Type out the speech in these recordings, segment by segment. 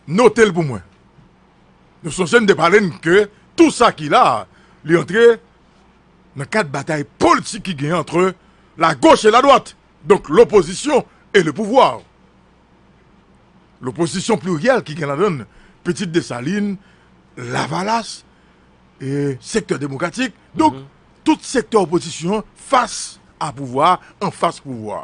Note l pou mwen. Nou sonje m te pale n ke tou sa ki la a, li antre nan kad batay politik ki gen antre la goch e la dwat, donk lopozisyon e le pouvwa. Lopozisyon pliryèl ki gen ladan n Pitit Desalin, Lavalas, e sektè demokratik, donk tout sektè opozisyon fas a pouvwa, anfas pouvwa.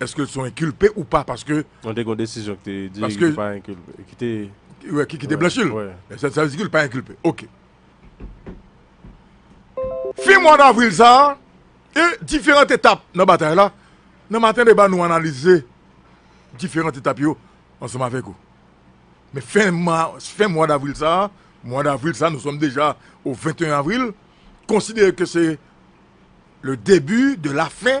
Eske son enkilpe ou pa paske. Non te gon desizyon ki te di li te pa enkilpe ki te. Wi ki te blanchi l. Sa vle di ki li pa enkilpe ok. Fen mwa davril sa a e diferant etap nan batay la nan maten deba nou analize diferant etap yo ansanm avèk ou. Men fen mwa fen mwa davril sa a mwa davril sa a nou sòm deja o 21 avril konsidere ke se le debi de la fen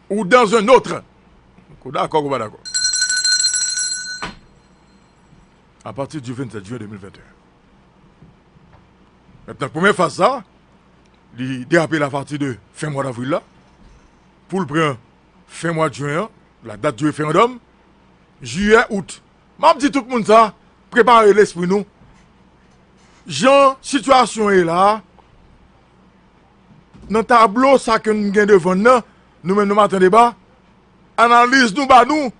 Ou dans un autre. Ou dakò ou pa dakò. A pati di 27 juin 2021. Mètnan premye faz sa, li derape la pati de fen mwa d'avril la, pou l pran fen mwa juin an, la dat di referandòm, jiyè, out. M ap di tout moun sa, prepare lespri nou. Jan sitiyasyon ye la, Nan tablo sa ke nou gen devan n nan, nou menm nan Maten Deba, analiz nou ba nou,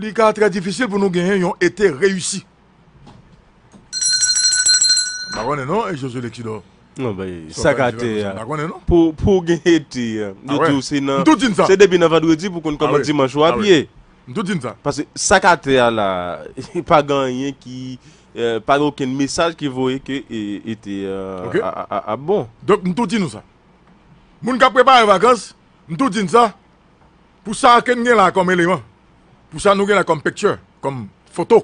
li ka trè difisil pou nou genyen yon ete reyisi. M pa konnen non Josue Lexidor. Bon bay, sa ka te a. M pa konnen non. Pou w gen ete, yo di w se nan, se depi nan vandredi pou w konn kòman dimanch ou abiye. M tou di n sa. Paske sa k atè a la a, pa gen anyen ki, pa gen okenn mesaj ki voye ke ete a ap bon. Donk m tou di nou sa. Moun k ap prepare vakans, m tou di n sa, pou sa ke n gen la a kòm eleman, pou sa nou gen la a kòm picture, kòm foto,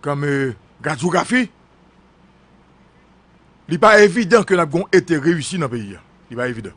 kòm radyografi, li pa evidan ke n ap gen yon ete reyisi nan peyi a. Li pa evidan.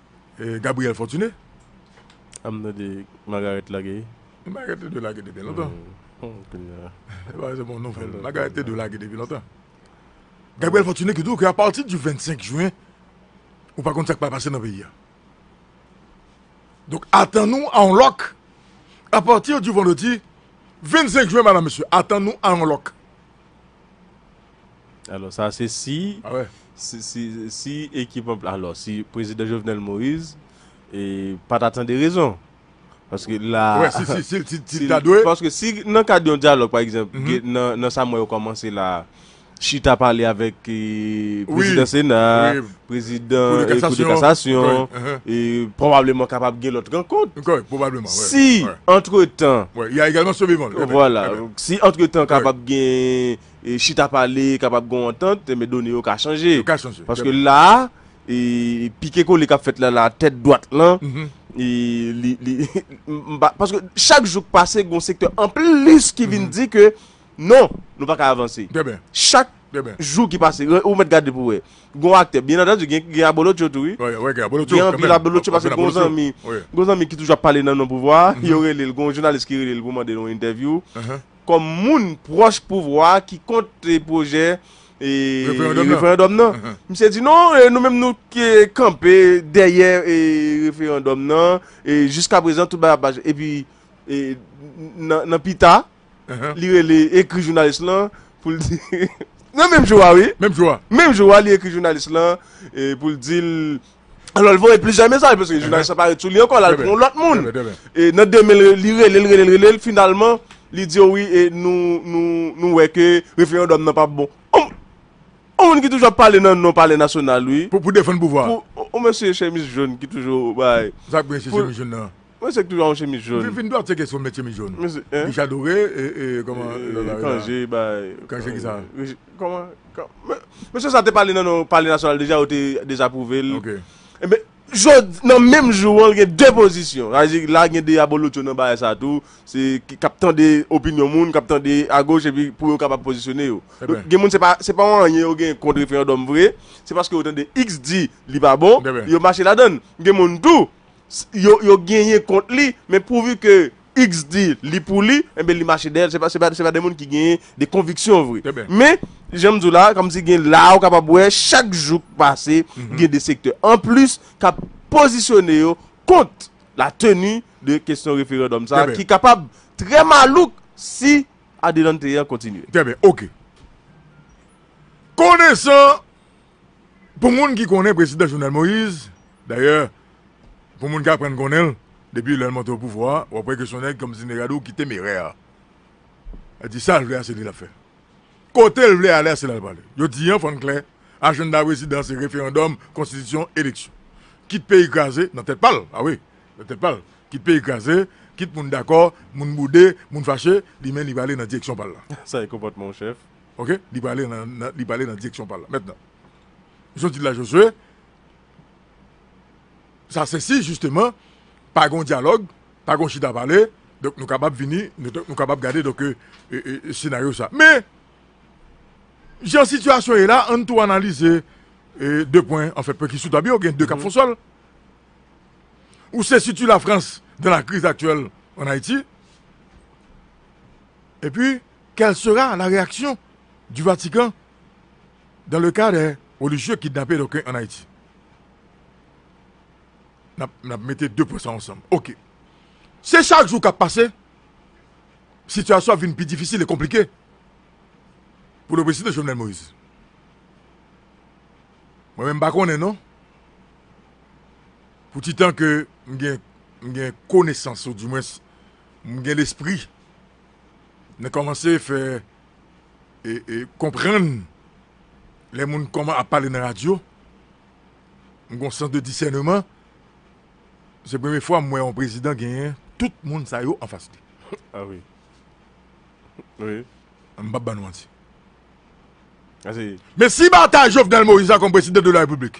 Gabriel Fortuné. Am tande Margarette lage. Margarette te dwe lage depi lontan. Se pa se bon nouvèl. Margarette te dwe lage depi lontan. Gabriel Fortuné ki di w ke apati di 25 jwen, ou pa konn sa k pral pase nan peyi a. Donk atann nou a yon lòk apati di vandredi 25 jwen, madan mesye, atann nou a yon lòk. Alò sa se si si ekip an alò si prezidan Jovenel Moïse e pa ta tande rezon. Paske la paske si nan kad yon dyalòg pa egzanp nan sa mwen yo kòmanse la chita pale avèk prezidan sena, prezidan kou de kasasyon e pwobableman kapab gen lòt rankont. Si antretan. Wè y a egalman sove van. Vwala si antretan kapab gen. Chita pale kapab gon antant, men done yo ka chanje. Yo ka chanje. Paske la, pike kole kap fèt la la tèt dwat lan, paske chak jou k pase gon sektè an plis ki vin di ke non, nou pa ka avanse. Trè byen. Chak jou ki pase, ou mèt gade pou wè. Gon aktè, byen antandu gen abolotcho tou wi. Wi, gen abolotcho. Gen anpil abolotcho paske gon zanmi, gon zanmi ki toujou ap pale nan non pouvwa, yo rele l, gon jounalis ki rele l pou mande l yon entèvyou. kòm moun pwòch pouvwa a ki kont pwojè referandòm nan. Misye di non, nou menm nou kanpe dèyè referandòm nan, jiska prezan tout bagay ap mache. Epi nan pita, li rele ekri jounalis lan pou l di, nan menm jou a wi, menm jou a li ekri jounalis lan pou l di l Alò l voye plizyè mesaj paske jounalis la pa ret sou li ankò, l al pran yon lòt moun. E nan demen l, li rele l, rele l, rele l, finalman li di yo wi e nou, nou, nou wè ke referandòm nan pap bon. On, on moun ki toujou ap pale nan non palè nasyonal wi. Pou, pou defann pouvwa a. Pou, on mesye chemiz jòn ki toujou bay. Sa k gen sou chemiz jòn nan? Mwen se k toujou a yon chemiz jaune. Vin dwat se kesyon met chemiz jaune. Richard Doré e koman lot la yo la. Cangé bay. Cangé kisa? Koman Mesye sa te pale nan yon pale nasyonal deja yo te dezapwouve l. Ok. Enben jodi nan menm jou an gen 2 pozisyon. Sa vle di la gen 2 abolotcho nan bagay sa tou. Se k ap tande opinyon moun, k ap tande agoch epi pou yo kapab pozisyone yo. Donk gen moun se pa se pa yon anyen yo gen kont referandòm vre. Se paske yo tande x di li pa bon yo mache ladann. Gen moun tou. yo genyen kont li men prouvi ke x di li pou li enben li mache dèyèl se pa se pa de moun ki genyen de konviksyon vre men janm di w la kòm si gen la ou kapab wè chak jou k pase gen de sektè an plis k ap pozisyone yo kont la teni de kesyon referandòm sa ki kapab trè malouk si adelante an kontinye trè byen ok konesan Pou moun ki konnen Prezidan Jovenel Moïse, dayè pou moun ki aprann konnen l depi lè l monte opouvwa, w ap wè ke s on nèg kòm Zine Gadou ki temerè. Li di sa l vle a se li l ap fè. Kote l vle ale a se la l prale. Yo di an fò n klè, ajennda Prezidan an se referandòm, konstitisyon, eleksyon. Kit peyi kraze, nan tèt pa l, a wi, nan tèt pa l, kit peyi kraze, kit moun dakò, moun boude, moun fache, li menm li prale nan direksyon pa l la. Sa e konpòtman yon chèf. Ok, li prale nan, nan, li prale nan direksyon pa l la. Mentnan, jan w di l la, Jozye, sa se si, jisteman, pa gen yon dyalòg, pa gen yon chita pale, donk nou kapab vini, nou kapab gade, donk, senaryo sa. Men, jan sitiyasyon ye la, ann tou analize de pwen, anfen, pwen ki sou tab yo, gen de k ap fon sòl. Ou se siti Lafrans dan la kriz aktyèl an Ayiti, epi, Quelle sera la réaction du Vatican dans le cas des religieux kidnappés donc en Haïti? N ap mete 2 pwen sa ansanm. Ok. Se chak jou k ap pase, sitiyasyon ap vin pi difisil e konplike pou le prezidan Jovenel Moïse. Mwen menm m pa konnen non, pou ti tan ke m gen konesans ou di mwens m gen lespri, nan komanse fè e konprann lè moun koman ap pale nan radyo m gon sans de disèneman se premye fwa m wè yon prezidan genyen tout moun sa yo anfas li a wi wi m pap ban nou manti men si batay Jovenel Moïse la kòm prezidan de la repiblik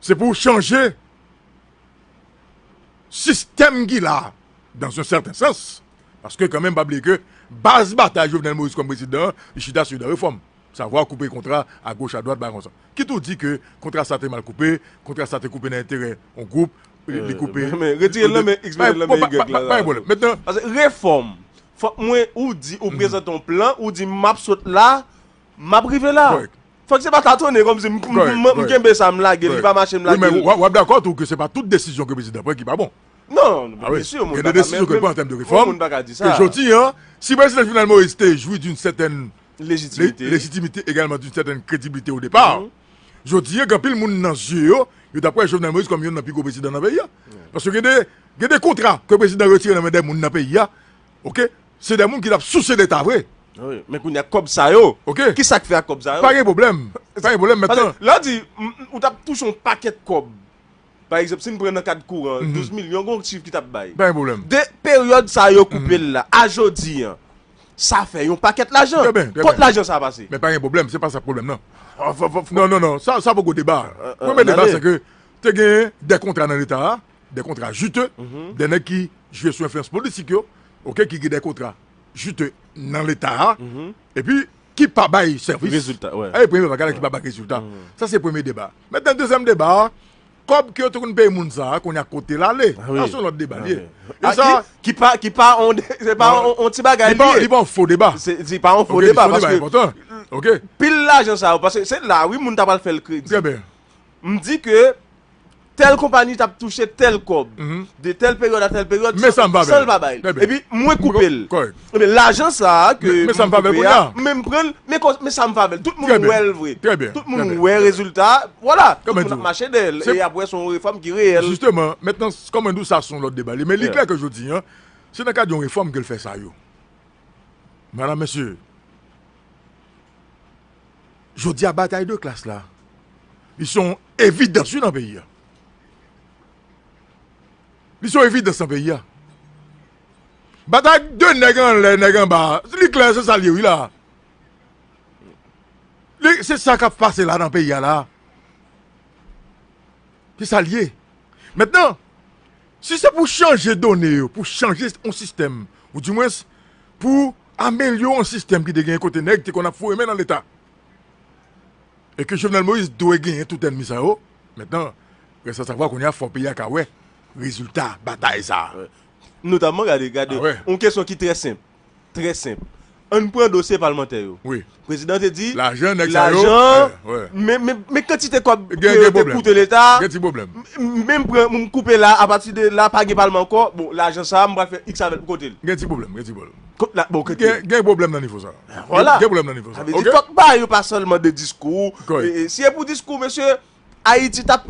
se pou chanje sistèm ki la a dans un certain sens paske kan menm pa bliye ke baz batay Jovenel Moïse kòm prezidan an li chita sou de refòm savwa koupe kontra a goch a dwat bagay konsa kit ou di ke kontra sa te mal koupe kontra sa te koupe nan enterè yon gwoup li koupe men retire l nan men x mete l nan men y la pa gen pwoblèm mètnan pase refòm fòk mwen ou di ou prezante yon plan ou di m ap sot la m ap rive la. Fòk se pa tatonne kòmsi m kenbe sa m lage l li pa mache m lage l. Wi men w ap dakò tou ke se pa tout desizyon ke prezidan pran ki pa bon. Non, byen su, moun pa ka menm menm, bon moun pa ka di sa. Gen de desizyon ke pran an tèm de refòm, ke jodi an, si prezidan Jovenel Moïse te jwi doun sètèn lejitimite, lejitimite egalman doun sètèn krediblite o depar, jodi an gen anpil moun nan zye yo, yo t ap wè Jovenel Moïse kòm youn nan pi gwo prezidan nan peyi an. Paske gen de, gen de kontra ke prezidan retire nan men de moun nan peyi an, Ok se de moun ki tap souse leta vre. Wi men kounya kob sa yo ok kisak fe ak kob sa yo. Pa gen pwoblem pa gen pwoblem met lan. Lè w di ou tap touche yon pakèt kòb pa egzanp si n pran nan kad kouran 12 milyon gon chiv ki tap bay. Pa gen pwoblem. De peryòd sa yo koupe l la a jodi an sa fè yon pakèt lajan. Trè byen trè byen. Kot lajan sa pase? Men pa gen pwoblem se pa sa k pwoblem nan. Non non non sa poko deba. Premye deba se ke te gen de kontra nan leta a. dè kontra jite, dè nèg ki jwe sou enfliyans politik yo, ok, ki gen dè kontra jite nan leta a, epi ki pa bay sèvis. Rezilta, wè. E premye bagay la ki pa bay rezilta. Sa se premye deba. Mètnen dezyèm deba a, kòb ke yo te konn peye moun sa a, kounye a kote l ale? Sa se yon lòt deba li ye. E sa. Ki pa, ki pa yon, se pa yon ti bagay li ye. Li pa yon fo deba. Se, se pa yon fo deba paske. Ok, se yon deba enpòtan. Ok. Pil lajan sa yo, paske se la wi moun ta pral fè l kredi. Trè byen. m di ke tèl konpani tap touche tèl kòb de tèl peryòd a tèl peryòd san l pa bay li epi mwen koupe l ebyen lajan sa a ke m koupe a men m pran l men sa m fè avè l tout moun wè l vre tout moun wè rezilta a vwala tout moun ap mache dèyè l e ap wè son refòm ki reyèl. Jisteman mentnan kòm mwen di w sa son lòt deba li men li klè ke jodi an se nan kad yon refòm ke l fè sa yo madam mesye. Jodi a batay de klas la, li se yon evidans wi nan peyi a. Li se yon evidans nan peyi a. Batay de nèg anlè, nèg anba, li klè se sa l ye wi la. Li se sa k ap pase la nan peyi a la. Se sa l ye. Mètnan. Si se pou chanje done yo, pou chanje yon sistèm, ou di mwens pou amelyore yon sistèm ki te genyen kote nèg te konn ap foure men nan leta, e ke Jovenel Moïse dwe genyen tout ènmi sa yo, mentnan, rèst a savwa kounye a fò peyi a ka wè rezilta batay sa a. Notamman, gade, gade, yon kesyon ki trè senp. Trè senp. An n pran dosye palmantè yo. Prezidan te di. Lajan nèg sa yo. Men kantite kòb ke yo te koute leta. Gen ti pwoblèm. Men m pran, m koupe la, apati de la pa gen palman ankò. Bon, lajan sa a m pral fè iks avè l pou kote l. Gen ti pwoblèm. Gen ti pwoblèm. Gen pwoblèm nan nivo sa a. Vwala. Gen pwoblèm nan nivo sa a. Sa vle di fòk bagay yo pa sèlman de diskou. Si e pou diskou mesye, Ayiti t ap.